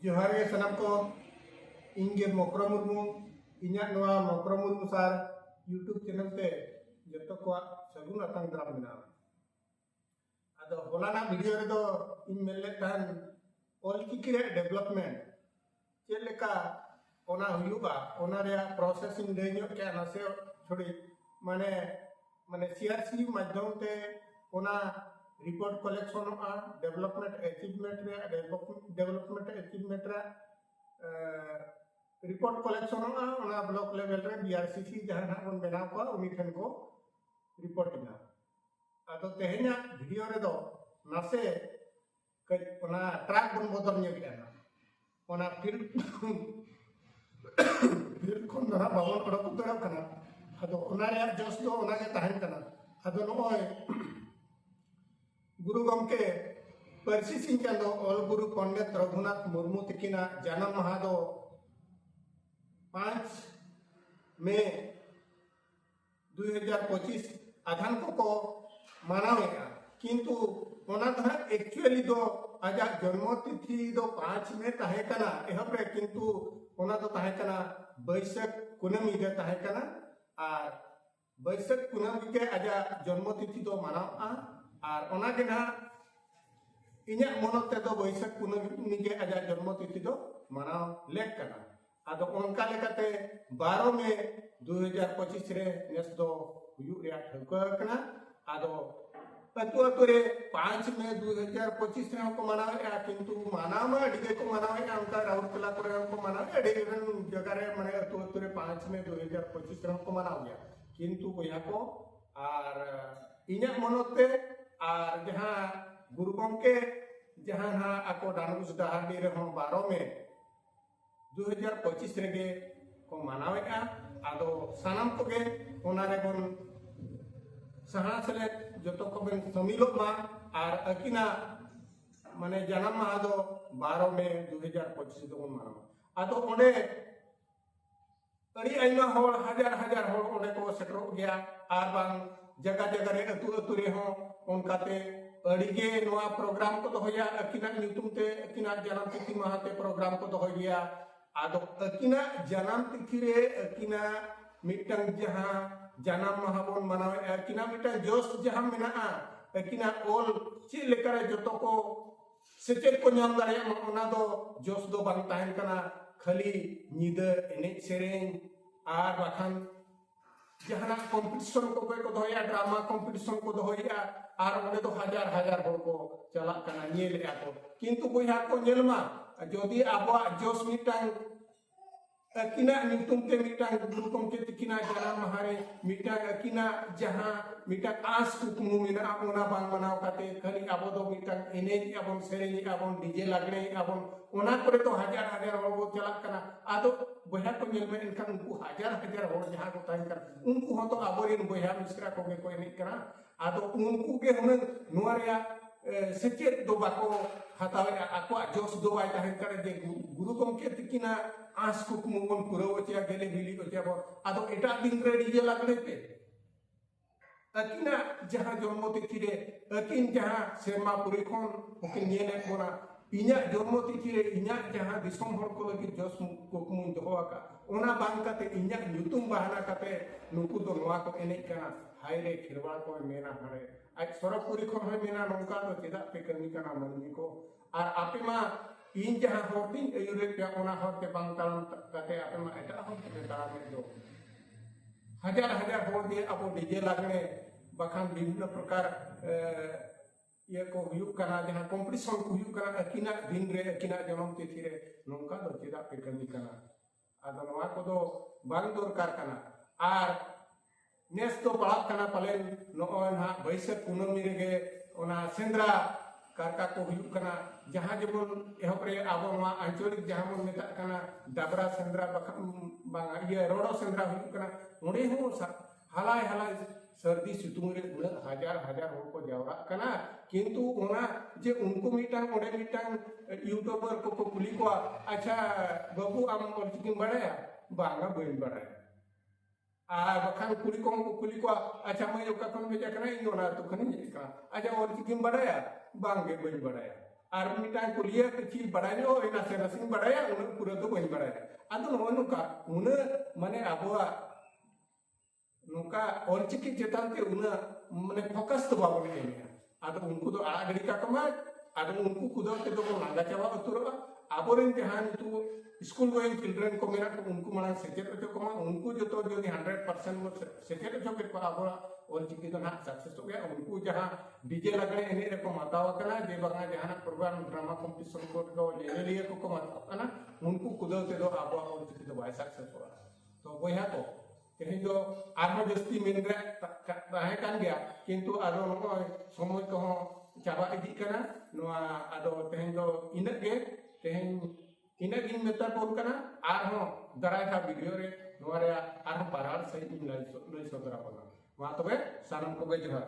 ᱡᱚᱦᱟᱨ ᱜᱮ ᱥᱟᱱᱟᱢ ᱠᱚ ᱤᱧ ᱜᱮ ᱢᱚᱠᱨᱚ ᱢᱩᱨᱢᱩ ᱤᱧᱟᱹᱜ ᱱᱚᱣᱟ ᱢᱚᱠᱨᱚ ᱢᱩᱨᱢᱩ ᱥᱟᱨ ᱭᱩᱴᱩᱵᱽ ᱪᱮᱱᱮᱞ ᱛᱮ ᱡᱚᱛᱚ ᱠᱚᱣᱟᱜ ᱥᱟᱹᱜᱩᱱ ᱟᱛᱟᱝ ᱫᱟᱨᱟᱢ ᱢᱮᱱᱟᱜᱼᱟ ᱟᱫᱚ ᱦᱚᱞᱟᱱᱟᱜ ᱵᱷᱤᱰᱤᱭᱳ ᱨᱮᱫᱚ ᱤᱧ ᱢᱮᱱ ᱞᱮᱫ ᱛᱟᱦᱮᱱ ᱚᱞᱪᱤᱠᱤ ᱨᱮᱭᱟᱜ ᱰᱮᱵᱷᱞᱚᱯᱢᱮᱱᱴ ᱪᱮᱫ ᱞᱮᱠᱟ ᱚᱱᱟ ᱦᱩᱭᱩᱜᱼᱟ ᱚᱱᱟ ᱨᱮᱭᱟᱜ ᱯᱨᱚᱥᱮᱥ ᱤᱧ ᱞᱟᱹᱭ ᱧᱚᱜ ᱠᱮᱫᱼᱟ ᱱᱟᱥᱮ ᱛᱷᱚᱲᱤ ᱢᱟᱱᱮ ᱢᱟᱱᱮ ᱥᱤᱟᱨᱥᱤ ᱢᱟᱫᱽᱫᱷᱚᱢ ᱛᱮ ᱚᱱᱟ ᱨᱤᱯᱳᱨᱴ ᱠᱚᱞᱮᱠᱥᱚᱱᱚᱜᱼᱟ ᱰᱮᱵᱷᱞᱚᱯᱢᱮᱱᱴ ᱮᱪᱤᱵᱷᱢᱮᱱᱴ ᱨᱮᱭᱟᱜ ᱰᱮᱵᱷᱞᱚᱯᱢᱮᱱᱴ ᱮᱪᱤᱵᱷᱢᱮᱱᱴ ᱨᱮᱭᱟᱜ ᱨᱤᱯᱳᱨᱴ ᱠᱚᱞᱮᱠᱥᱚᱱᱚᱜᱼᱟ ᱚᱱᱟ ᱵᱞᱚᱠ ᱞᱮᱵᱮᱞ ᱨᱮ ᱵᱤᱟᱨᱥᱤᱥᱤ ᱡᱟᱦᱟᱸ ᱱᱟᱜ ᱵᱚᱱ ᱵᱮᱱᱟᱣ ᱠᱚᱣᱟ ᱩᱱᱤ ᱴᱷᱮᱱ ᱠᱚ ᱨᱤᱯᱳᱨᱴ ᱮᱫᱟ ᱟᱫᱚ ᱛᱮᱦᱮᱧᱟᱜ ᱵᱷᱤᱰᱤᱭᱳ ᱨᱮᱫᱚ ᱱᱟᱥᱮ ᱠᱟᱹᱡ ᱚᱱᱟ ᱴᱨᱟᱠ ᱵᱚᱱ ᱵᱚᱫᱚᱞ ᱧᱚᱜ ᱮᱫᱟ ᱚᱱᱟ ᱯᱷᱤᱞᱰ ᱯᱷᱤᱞᱰ ᱠᱷᱚᱱ ᱫᱚ ᱦᱟᱸᱜ ᱵᱟᱵᱚᱱ ᱚᱰᱚᱠ ᱩᱛᱟᱹᱨᱚᱜ ᱠᱟᱱᱟ ᱟᱫᱚ ᱚᱱᱟ ᱨᱮᱭᱟᱜ ᱡᱚᱥ ᱫᱚ ᱚᱱᱟ ᱜᱮ ᱛᱟᱦᱮᱱ ᱠᱟᱱᱟ ᱟᱫᱚ ᱱᱚᱜᱼᱚᱭ ᱜᱩᱨᱩ ᱜᱚᱢᱠᱮ ᱯᱟᱹᱨᱥᱤ ᱥᱤᱧ ᱪᱟᱸᱫᱚ ᱚᱞ ᱜᱩᱨᱩ ᱯᱚᱱᱰᱤᱛ ᱨᱚᱜᱷᱩᱱᱟᱛᱷ ᱢᱩᱨᱢᱩ ᱛᱤᱠᱤᱱᱟᱜ ᱡᱟᱱᱟᱢ ᱢᱟᱦᱟ ᱫᱚ ᱯᱟᱸᱪ ᱢᱮ ᱫᱩᱭ ᱦᱟᱡᱟᱨ ᱯᱚᱸᱪᱤᱥ ᱟᱫᱷᱟᱱ ᱠᱚᱠᱚ ᱢᱟᱱᱟᱣᱮᱫᱼᱟ ᱠᱤᱱᱛᱩ ᱚᱱᱟ ᱫᱚ ᱦᱟᱸᱜ ᱮᱠᱪᱩᱭᱮᱞᱤ ᱫᱚ ᱟᱡᱟᱜ ᱡᱚᱱᱢᱚ ᱛᱤᱛᱷᱤ ᱫᱚ ᱯᱟᱸᱪ ᱢᱮ ᱛᱟᱦᱮᱸ ᱠᱟᱱᱟ ᱮᱦᱚᱵ ᱨᱮ ᱠᱤᱱᱛᱩ ᱚᱱᱟ ᱫᱚ ᱛᱟᱦᱮᱸ ᱠᱟᱱᱟ ᱵᱟᱹᱭᱥᱟᱹᱠ ᱠᱩᱱᱟᱹᱢᱤ ᱨᱮ ᱛᱟᱦᱮᱸ ᱠᱟᱱᱟ ᱟᱨ ᱵᱟᱹᱭᱥᱟᱹᱠ ᱠᱩᱱᱟᱹᱢᱤ ᱜᱮ ᱟᱡᱟᱜ ᱡᱚᱱᱢᱚ ᱛᱤᱛᱷᱤ ᱫᱚ ᱢᱟᱱᱟᱣᱚᱜᱼᱟ ᱟᱨ ᱚᱱᱟ ᱜᱮ ᱱᱟᱦᱟᱜ ᱤᱧᱟᱹᱜ ᱢᱚᱱᱚᱛ ᱛᱮᱫᱚ ᱵᱟᱹᱭᱥᱟᱹᱠ ᱠᱩᱱᱟᱹᱢᱤ ᱜᱮ ᱟᱡᱟᱜ ᱡᱚᱱᱢᱚ ᱛᱤᱛᱷᱤ ᱫᱚ ᱢᱟᱱᱟᱣ ᱞᱮᱠ ᱠᱟᱱᱟ ᱟᱫᱚ ᱚᱱᱠᱟ ᱞᱮᱠᱟᱛᱮ ᱵᱟᱨᱚ ᱢᱮ ᱫᱩ ᱦᱟᱡᱟᱨ ᱯᱚᱸᱪᱤᱥ ᱨᱮ ᱱᱮᱥ ᱫᱚ ᱦᱩᱭᱩᱜ ᱨᱮᱭᱟᱜ ᱴᱷᱟᱹᱣᱠᱟᱹ ᱟᱠᱟᱱᱟ ᱟᱫᱚ ᱟᱹᱛᱩ ᱟᱹᱛᱩ ᱨᱮ ᱯᱟᱸᱪ ᱢᱮ ᱫᱩ ᱦᱟᱡᱟᱨ ᱯᱚᱸᱪᱤᱥ ᱨᱮᱦᱚᱸ ᱠᱚ ᱢᱟᱱᱟᱣᱮᱫᱼᱟ ᱠᱤᱱᱛᱩ ᱢᱟᱱᱟᱣ ᱢᱟ ᱟᱹᱰᱤ ᱜᱮᱠᱚ ᱢᱟᱱᱟᱣᱮᱫᱼᱟ ᱚᱱᱠᱟ ᱨᱟᱣᱩᱨᱠᱮᱞᱟ ᱠᱚᱨᱮ ᱦᱚᱸ ᱠᱚ ᱢᱟᱱᱟᱣᱮᱫᱼᱟ ᱟᱹᱰᱤ ᱜᱟᱱ ᱡᱟᱭᱜᱟ ᱨᱮ ᱢᱟᱱᱮ ᱟᱹᱛᱩ ᱟᱹᱛᱩ ᱨᱮ ᱯᱟᱸᱪ ᱢᱮ ᱫᱩ ᱦᱟᱡᱟᱨ ᱯᱚᱸᱪᱤᱥ ᱨᱮᱦᱚᱸ ᱠᱚ ᱢᱟᱱᱟᱣ ᱜᱮᱭᱟ ᱠᱤᱱᱛᱩ ᱵᱚᱭᱦᱟ ᱠᱚ ᱟᱨ ᱤᱧᱟᱹᱜ ᱢᱚᱱᱚᱛ ᱛᱮ ᱟᱨ ᱡᱟᱦᱟᱸ ᱜᱩᱨᱩ ᱜᱚᱢᱠᱮ ᱡᱟᱦᱟᱸ ᱦᱟᱸᱜ ᱟᱠᱚ ᱰᱟᱱᱩᱥ ᱰᱟᱦᱟᱨᱰᱤ ᱨᱮᱦᱚᱸ ᱵᱟᱨᱚ ᱢᱮ ᱫᱩ ᱦᱟᱡᱟᱨ ᱯᱚᱸᱪᱤᱥ ᱨᱮᱜᱮ ᱠᱚ ᱢᱟᱱᱟᱣᱮᱫᱼᱟ ᱟᱫᱚ ᱥᱟᱱᱟᱢ ᱠᱚᱜᱮ ᱚᱱᱟ ᱨᱮᱵᱚᱱ ᱥᱟᱦᱟ ᱥᱮᱞᱮᱫ ᱡᱚᱛᱚ ᱠᱚᱵᱚᱱ ᱥᱟᱹᱢᱤᱞᱚᱜ ᱢᱟ ᱟᱨ ᱟᱹᱠᱤᱱᱟᱜ ᱢᱟᱱᱮ ᱡᱟᱱᱟᱢ ᱢᱟᱦᱟ ᱫᱚ ᱵᱟᱨᱚ ᱢᱮ ᱫᱩ ᱦᱟᱡᱟᱨ ᱯᱚᱸᱪᱤᱥ ᱫᱚᱵᱚᱱ ᱢᱟᱱᱟᱣᱟ ᱟᱫᱚ ᱚᱸᱰᱮ ᱟᱹᱰᱤ ᱟᱭᱢᱟ ᱦᱚᱲ ᱦᱟᱡᱟᱨ ᱦᱟᱡᱟᱨ ᱦᱚᱲ ᱚᱸᱰᱮ ᱠᱚ ᱥᱮᱴᱮᱨᱚᱜ ᱜᱮᱭᱟ ᱟᱨ ᱵᱟᱝ ᱡᱟᱭᱜᱟ ᱡᱟᱭᱜᱟ ᱨᱮ ᱟᱹᱛᱩ ᱟᱹᱛᱩ ᱨᱮᱦᱚᱸ ᱚᱱᱠᱟᱛᱮ ᱟᱹᱰᱤ ᱜᱮ ᱱᱚᱣᱟ ᱯᱨᱳᱜᱨᱟᱢ ᱠᱚ ᱫᱚᱦᱚᱭᱟ ᱟᱹᱠᱤᱱᱟᱜ ᱧᱩᱛᱩᱢ ᱛᱮ ᱟᱹᱠᱤᱱᱟᱜ ᱡᱟᱱᱟᱢ ᱛᱤᱛᱷᱤ ᱢᱟᱦᱟ ᱛᱮ ᱯᱨᱳᱜᱨᱟᱢ ᱠᱚ ᱫᱚᱦᱚᱭ ᱜᱮᱭᱟ ᱟᱫᱚ ᱟᱹᱠᱤᱱᱟᱜ ᱡᱟᱱᱟᱢ ᱛᱤᱛᱷᱤ ᱨᱮ ᱟᱹᱠᱤᱱᱟᱜ ᱢᱤᱫᱴᱟᱝ ᱡᱟᱦᱟᱸ ᱡᱟᱱᱟᱢ ᱢᱟᱦᱟ ᱵᱚᱱ ᱢᱟᱱᱟᱣᱮᱫᱼᱟ ᱟᱹᱠᱤᱱᱟᱜ ᱢᱤᱫᱴᱟᱝ ᱡᱚᱥ ᱡᱟᱦᱟᱸ ᱢᱮᱱᱟᱜᱼᱟ ᱟᱹᱠᱤᱱᱟᱜ ᱚᱞ ᱪᱮᱫ ᱞᱮᱠᱟᱨᱮ ᱡᱚᱛᱚ ᱠᱚ ᱥᱮᱪᱮᱫ ᱠᱚ ᱧᱟᱢ ᱫᱟᱲᱮᱭᱟᱜ ᱢᱟ ᱚᱱᱟ ᱫᱚ ᱡᱚᱥ ᱫᱚ ᱵᱟᱝ ᱛᱟᱦᱮᱱ ᱠᱟᱱᱟ ᱠᱷᱟᱹᱞᱤ ᱧᱤᱫᱟᱹ ᱮᱱᱮᱡ ᱥᱮᱨᱮᱧ ᱟᱨ ᱵᱟᱠᱷᱟᱱ ᱡᱟᱦᱟᱱᱟᱜ ᱠᱚᱢᱯᱤᱴᱤᱥᱚᱱ ᱠᱚ ᱚᱠᱚᱭ ᱠᱚ ᱫᱚᱦᱚᱭᱟ ᱰᱨᱟᱢᱟ ᱠᱚᱢᱯᱤᱴᱤᱥᱚᱱ ᱠᱚ ᱫᱚᱦᱚᱭᱮᱜᱼᱟ ᱟᱨ ᱚᱸᱰᱮ ᱫᱚ ᱦᱟᱡᱟᱨ ᱦᱟᱡᱟᱨ ᱦᱚᱲ ᱠᱚ ᱪᱟᱞᱟᱜ ᱠᱟᱱᱟ ᱧᱮᱞᱮᱜᱼᱟ ᱠᱚ ᱠᱤᱱᱛᱩ ᱵᱚᱭᱦᱟ ᱠᱚ ᱧᱮᱞ ᱢᱟ ᱡᱚᱫᱤ ᱟᱵᱚᱣᱟᱜ ᱡᱚᱥ ᱢᱤᱫᱴᱟᱝ ᱟᱹᱠᱤᱱᱟᱜ ᱧᱩᱛᱩᱢ ᱛᱮ ᱢᱤᱫᱴᱟᱝ ᱜᱩᱨᱩ ᱜᱚᱢᱠᱮ ᱛᱤᱠᱤᱱᱟᱜ ᱡᱟᱱᱟᱢ ᱢᱟᱦᱟ ᱨᱮ ᱢᱤᱫᱴᱟᱝ ᱟᱹᱠᱤᱱᱟᱜ ᱡᱟᱦᱟᱸ ᱢᱤᱫᱴᱟᱝ ᱟᱸᱥ ᱠᱩᱠᱢᱩ ᱢᱮᱱᱟᱜᱼᱟ ᱚᱱᱟ ᱵᱟᱝ ᱢᱟᱱᱟᱣ ᱠᱟᱛᱮ ᱠᱷᱟᱹᱞᱤ ᱟᱵᱚ ᱫᱚ ᱢᱤᱫᱴᱟᱝ ᱮᱱᱮᱡ ᱟᱵᱚᱱ ᱥᱮᱨᱮᱧ ᱟᱵᱚᱱ ᱰᱤᱡᱮ ᱞᱟᱜᱽᱲᱮ ᱟᱵᱚᱱ ᱚᱱᱟ ᱠᱚᱨᱮ ᱫᱚ ᱦᱟᱡᱟᱨ ᱦᱟᱡᱟᱨ ᱦᱚᱲ ᱵᱚ ᱪᱟᱞᱟᱜ ᱠᱟᱱᱟ ᱟᱫᱚ ᱵᱚᱭᱦᱟ ᱠᱚ ᱧᱮᱞ ᱢᱮ ᱮᱱᱠᱷᱟᱱ ᱩᱱᱠᱩ ᱦᱟᱡᱟᱨ ᱦᱟᱡᱟᱨ ᱦᱚᱲ ᱡᱟᱦᱟᱸ ᱠᱚ ᱛᱟᱦᱮᱱ ᱠᱟᱱᱟ ᱩᱱᱠᱩ ᱦᱚᱸ ᱫᱚ ᱟᱵᱚᱨᱮᱱ ᱵᱚᱭᱦᱟ ᱢᱤᱥᱨᱟ ᱠᱚᱜᱮ ᱠᱚ ᱮᱱᱮᱡ ᱠᱟᱱᱟ ᱟᱫᱚ ᱩᱱᱠᱩ ᱜᱮ ᱦᱩᱱᱟᱹᱝ ᱱᱚᱣᱟ ᱨᱮᱭᱟᱜ ᱥᱮᱪᱮᱫ ᱫᱚ ᱵᱟᱠᱚ ᱦᱟᱛᱟᱣᱮᱫᱼᱟ ᱟᱠᱚᱣᱟᱜ ᱡᱚᱥ ᱫᱚ ᱵᱟᱭ ᱛᱟᱦᱮᱱ ᱠᱟᱱᱟ ᱡᱮ ᱜᱩᱨᱩ ᱜᱚᱢᱠᱮ ᱛᱤᱠᱤᱱᱟᱜ ᱟᱸᱥ ᱠᱩᱠᱢᱩ ᱵᱚᱱ ᱯᱩᱨᱟᱹᱣ ᱦᱚᱪᱚᱭᱟ ᱜᱮᱞᱮ ᱵᱤᱞᱤ ᱦᱚᱪᱚᱭᱟ ᱵᱚᱱ ᱟᱫᱚ ᱮᱴᱟᱜ ᱫᱤᱱ ᱨᱮ ᱰᱤᱡᱮ ᱞᱟᱜᱽᱲᱮ ᱯᱮ ᱟᱹᱠᱤᱱᱟᱜ ᱡᱟᱦᱟᱸ ᱡᱚᱱᱢᱚ ᱛᱤᱛᱷᱤ ᱨᱮ ᱟᱹᱠᱤᱱ ᱡᱟᱦᱟᱸ ᱥᱮᱨᱢᱟ ᱯᱩᱨᱤ ᱠᱷᱚᱱ ᱦᱚᱸᱠᱤᱱ ᱧᱮᱞᱮᱫ ᱵᱚᱱᱟ ᱤᱧᱟᱹᱜ ᱡᱚᱱᱢᱚ ᱛᱤᱛᱷᱤ ᱨᱮ ᱤᱧᱟᱹᱜ ᱡᱟᱦᱟᱸ ᱫᱤᱥᱚᱢ ᱦᱚᱲ ᱠᱚ ᱞᱟᱹᱜᱤᱫ ᱡᱚᱥ ᱠᱩᱠᱢᱩᱧ ᱫᱚᱦᱚ ᱟᱠᱟᱫ ᱚᱱᱟ ᱵᱟᱝ ᱠᱟᱛᱮ ᱤᱧᱟᱹᱜ ᱧᱩᱛᱩᱢ ᱵᱟᱦᱟᱱᱟ ᱠᱟᱛᱮ ᱱᱩᱠᱩ ᱫᱚ ᱱᱚᱣᱟ ᱠᱚ ᱮᱱᱮᱡ ᱠᱟᱱᱟ ᱦᱟᱭ ᱨᱮ ᱠᱷᱮᱨᱣᱟᱲ ᱠᱚᱭ ᱢᱮᱱᱟ ᱦᱟᱲᱮ ᱟᱡ ᱥᱚᱨᱚᱜᱯᱩᱨᱤ ᱠᱷᱚᱱ ᱦᱚᱸᱭ ᱢᱮᱱᱟ ᱱᱚᱝᱠᱟ ᱫᱚ ᱪᱮᱫᱟᱜ ᱯᱮ ᱠᱟᱹᱢᱤ ᱠᱟᱱᱟ ᱢᱟᱹᱱᱢᱤ ᱠᱚ ᱟᱨ ᱟᱯᱮ ᱢᱟ ᱤᱧ ᱡᱟᱦᱟᱸ ᱦᱚᱨ ᱛᱤᱧ ᱟᱹᱭᱩᱨᱮᱫ ᱯᱮᱭᱟ ᱚᱱᱟ ᱦᱚᱨ ᱛᱮ ᱵᱟᱝ ᱛᱟᱲᱟᱢ ᱠᱟᱛᱮ ᱟᱯᱮ ᱢᱟ ᱮᱴᱟᱜ ᱦᱚᱨ ᱛᱮᱯᱮ ᱛᱟᱲᱟᱢᱮᱫ ᱫᱚ ᱦᱟᱡᱟᱨ ᱦᱟᱡᱟᱨ ᱦᱚᱲ ᱫᱤᱭᱮ ᱟᱵᱚ ᱰᱤᱡᱮ ᱞᱟᱜᱽᱬᱮ ᱵᱟᱠᱷᱟᱱ ᱵᱤᱵᱷᱤᱱᱱᱚ ᱯᱨᱚᱠᱟᱨ ᱤᱭᱟᱹ ᱠᱚ ᱦᱩᱭᱩᱜ ᱠᱟᱱᱟ ᱡᱟᱦᱟᱸ ᱠᱚᱢᱯᱤᱴᱤᱥᱚᱱ ᱠᱚ ᱦᱩᱭᱩᱜ ᱠᱟᱱᱟ ᱟᱹᱠᱤᱱᱟᱜ ᱫᱤᱱ ᱨᱮ ᱟᱹᱠᱤᱱᱟᱜ ᱡᱚᱱᱚᱢ ᱛᱤᱛᱷᱤ ᱨᱮ ᱱᱚᱝᱠᱟ ᱫᱚ ᱪᱮᱫᱟᱜ ᱯᱮ ᱠᱟᱹᱢᱤ ᱠᱟᱱᱟ ᱟᱫᱚ ᱱᱚᱣᱟ ᱠᱚᱫᱚ ᱵᱟᱝ ᱫᱚᱨᱠᱟᱨ ᱠᱟᱱᱟ ᱟᱨ ᱱᱮᱥ ᱫᱚ ᱯᱟᱲᱟᱜ ᱠᱟᱱᱟ ᱯᱟᱞᱮᱱ ᱱᱚᱜᱼᱚᱭ ᱱᱟᱦᱟᱜ ᱵᱟᱹᱭᱥᱟᱹᱠᱷ ᱠᱩᱱᱟᱹᱢᱤ ᱨᱮᱜᱮ ᱚᱱᱟ ᱥᱮᱸᱫᱽᱨᱟ ᱠᱟᱨᱠᱟ ᱠᱚ ᱦᱩᱭᱩᱜ ᱠᱟᱱᱟ ᱡᱟᱦᱟᱸ ᱡᱮᱢᱚᱱ ᱮᱦᱚᱵ ᱨᱮ ᱟᱵᱚ ᱱᱚᱣᱟ ᱟᱧᱪᱚᱞᱤᱠ ᱡᱟᱦᱟᱸ ᱵᱚᱱ ᱢᱮᱛᱟᱜ ᱠᱟᱱᱟ ᱰᱟᱵᱽᱨᱟ ᱥᱮᱸᱫᱽᱨᱟ ᱵᱟᱠᱷᱟᱱ ᱵᱟᱝᱟ ᱤᱭᱟᱹ ᱨᱚᱲᱚ ᱥᱮᱸᱫᱽᱨᱟ ᱦᱩᱭᱩᱜ ᱠᱟᱱᱟ ᱚᱸᱰᱮ ᱦᱚᱸ ᱦᱟᱞᱟᱭ ᱦᱟᱞᱟᱭ ᱥᱟᱹᱨᱫᱤ ᱥᱤᱛᱩᱝ ᱨᱮ ᱩᱱᱟᱹᱜ ᱦᱟᱡᱟᱨ ᱦᱟᱡᱟᱨ ᱦᱚᱲ ᱠᱚ ᱡᱟᱣᱨᱟᱜ ᱠᱟᱱᱟ ᱠᱤᱱᱛᱩ ᱚᱱᱟ ᱡᱮ ᱩᱱᱠᱩ ᱢᱤᱫᱴᱟᱝ ᱚᱸᱰᱮ ᱢᱤᱫᱴᱟᱝ ᱤᱭᱩᱴᱩᱵᱟᱨ ᱠᱚᱠᱚ ᱠᱩᱞᱤ ᱠᱚᱣᱟ ᱟᱪᱪᱷᱟ ᱵᱟᱹᱵᱩ ᱟᱢ ᱚᱞᱪᱤᱠᱤᱢ ᱵᱟᱲᱟᱭᱟ ᱵᱟᱝᱟ ᱵᱟᱹᱧ ᱵᱟᱲᱟᱭᱟ ᱟᱨ ᱵᱟᱠᱷᱟᱱ ᱠᱩᱲᱤ ᱠᱚᱦᱚᱸ ᱠᱚ ᱠᱩᱞᱤ ᱠᱚᱣᱟ ᱟᱪᱪᱷᱟ ᱢᱟᱹᱭ ᱚᱠᱟ ᱠᱷᱚᱱ ᱦᱮᱡ ᱟᱠᱟᱱᱟ ᱤᱧ ᱚᱱᱟ ᱟᱹᱛᱩ ᱠᱷᱚᱱᱤᱧ ᱦᱮᱡ ᱟᱠᱟᱱᱟ ᱟᱪᱪᱷᱟ ᱚᱞᱪᱤᱠᱤᱢ ᱵᱟᱲᱟᱭᱟ ᱵᱟᱝᱜᱮ ᱵᱟᱹᱧ ᱵᱟᱲᱟᱭᱟ ᱟᱨ ᱢᱤᱫᱴᱟᱝ ᱠᱩᱞᱤᱭᱟ ᱠᱤᱪᱷᱤ ᱵᱟᱲᱟᱭ ᱧᱚᱜ ᱤᱧ ᱱᱟᱥᱮ ᱱᱟᱥᱮᱧ ᱵᱟᱲᱟᱭᱟ ᱩᱱᱟᱹᱜ ᱯᱩᱨᱟᱹ ᱫᱚ ᱵᱟᱹᱧ ᱵᱟᱲᱟᱭᱟ ᱟᱫᱚ ᱱᱚᱜᱼᱚ ᱱᱚᱝᱠᱟ ᱩᱱᱟᱹᱜ ᱢᱟᱱᱮ ᱟᱵᱚᱣᱟᱜ ᱱᱚᱝᱠᱟ ᱚᱞᱪᱤᱠᱤ ᱪᱮᱛᱟᱱ ᱛᱮ ᱩᱱᱟᱹᱜ ᱢᱟᱱᱮ ᱯᱷᱳᱠᱟᱥ ᱫᱚ ᱵᱟᱵᱚᱱ ᱮᱢᱮᱜᱼᱟ ᱟᱫᱚ ᱩᱱᱠᱩ ᱫᱚ ᱟᱲᱟᱜ ᱜᱤᱰᱤ ᱠᱟᱠᱚ ᱢᱟ ᱟᱫᱚ ᱩᱱᱠᱩ ᱠᱚᱫᱚ ᱛᱮᱫᱚ ᱵᱚᱱ ᱞᱟᱸᱜᱟ ᱪᱟᱵᱟ ᱩᱛᱟᱹᱨᱚᱜᱼᱟ ᱟᱵᱚᱨᱮᱱ ᱡᱟᱦᱟᱸ ᱱᱤᱛᱚᱜ ᱥᱠᱩᱞ ᱜᱳᱭᱤᱝ ᱪᱤᱞᱰᱨᱮᱱ ᱠᱚ ᱢᱮᱱᱟᱜ ᱠᱚ ᱩᱱᱠᱩ ᱢᱟᱲᱟᱝ ᱥᱮᱪᱮᱫ ᱦᱚᱪᱚ ᱠᱚᱢᱟ ᱩᱱᱠᱩ ᱡᱚᱛᱚ ᱡᱩᱫᱤ ᱦᱟᱱᱰᱨᱮᱰ ᱯᱟᱨᱥᱮᱱᱴ ᱵᱚᱱ ᱥᱮᱪᱮᱫ ᱦᱚᱪᱚ ᱠᱮᱫ ᱠᱚᱣᱟ ᱟᱵᱚᱣᱟᱜ ᱚᱞᱪᱤᱠᱤ ᱫᱚ ᱱᱟᱦᱟᱜ ᱥᱟᱠᱥᱮᱥᱚᱜ ᱜᱮᱭᱟ ᱩᱱᱠᱩ ᱡᱟᱦᱟᱸ ᱰᱤᱡᱮ ᱞᱟᱜᱽᱲᱮ ᱮᱱᱮᱡ ᱨᱮᱠᱚ ᱢᱟᱛᱟᱣ ᱟᱠᱟᱱᱟ ᱡᱮ ᱵᱟᱝᱟ ᱡᱟᱦᱟᱱᱟᱜ ᱯᱨᱳᱜᱨᱟᱢ ᱰᱨᱟᱢᱟ ᱠᱚᱢᱯᱤᱴᱤᱥᱚᱱ ᱠᱚᱨᱮ ᱫᱚ ᱧᱮᱧᱮᱞᱤᱭᱟᱹ ᱠᱚᱠᱚ ᱢᱟᱛᱟᱣ ᱠᱟᱱᱟ ᱩᱱᱠᱩ ᱠᱩᱫᱟᱹᱣ ᱛᱮᱫᱚ ᱟᱵᱚᱣᱟᱜ ᱚᱞᱪᱤᱠᱤ ᱫᱚ ᱵᱟᱭ ᱥᱟᱠᱥᱮᱥᱚᱜᱼᱟ ᱛᱚ ᱵᱚᱭᱦᱟ ᱠᱚ ᱛᱮᱦᱮᱧ ᱫᱚ ᱟᱨᱦᱚᱸ ᱡᱟᱹᱥᱛᱤ ᱢᱮᱱ ᱨᱮᱭᱟᱜ ᱛᱟᱦᱮᱸ ᱠᱟᱱ ᱜᱮᱭᱟ ᱠᱤᱱᱛᱩ ᱟᱫᱚ ᱱᱚᱜᱼᱚᱭ ᱥᱚᱢᱚᱭ ᱠᱚᱦᱚᱸ ᱪᱟᱵᱟ ᱤᱫᱤᱜ ᱠᱟᱱᱟ ᱱᱚᱣᱟ ᱟᱫᱚ ᱛᱮᱦᱮᱧ ᱫᱚ ᱤᱱᱟᱹᱜ ᱜᱮ ᱛᱮᱦᱮᱧ ᱤᱱᱟᱹᱜ ᱜᱤᱧ ᱢᱮᱛᱟ ᱵᱚᱱ ᱠᱟᱱᱟ ᱟᱨᱦᱚᱸ ᱫᱟᱨᱟᱭ ᱠᱟᱱ ᱵᱷᱤᱰᱤᱭᱳ ᱨᱮ ᱱᱚᱣᱟ ᱨᱮᱭᱟᱜ ᱟᱨᱦᱚᱸ ᱵᱟᱨᱟᱲ ᱥᱟᱺᱦᱤᱡ ᱤᱧ ᱞᱟᱹᱭ ᱥᱚᱫᱚᱨ ᱟᱵᱚᱱᱟ ᱢᱟ ᱛᱚᱵᱮ ᱥᱟᱱᱟᱢ ᱠᱚᱜᱮ ᱡᱚᱦᱟᱨ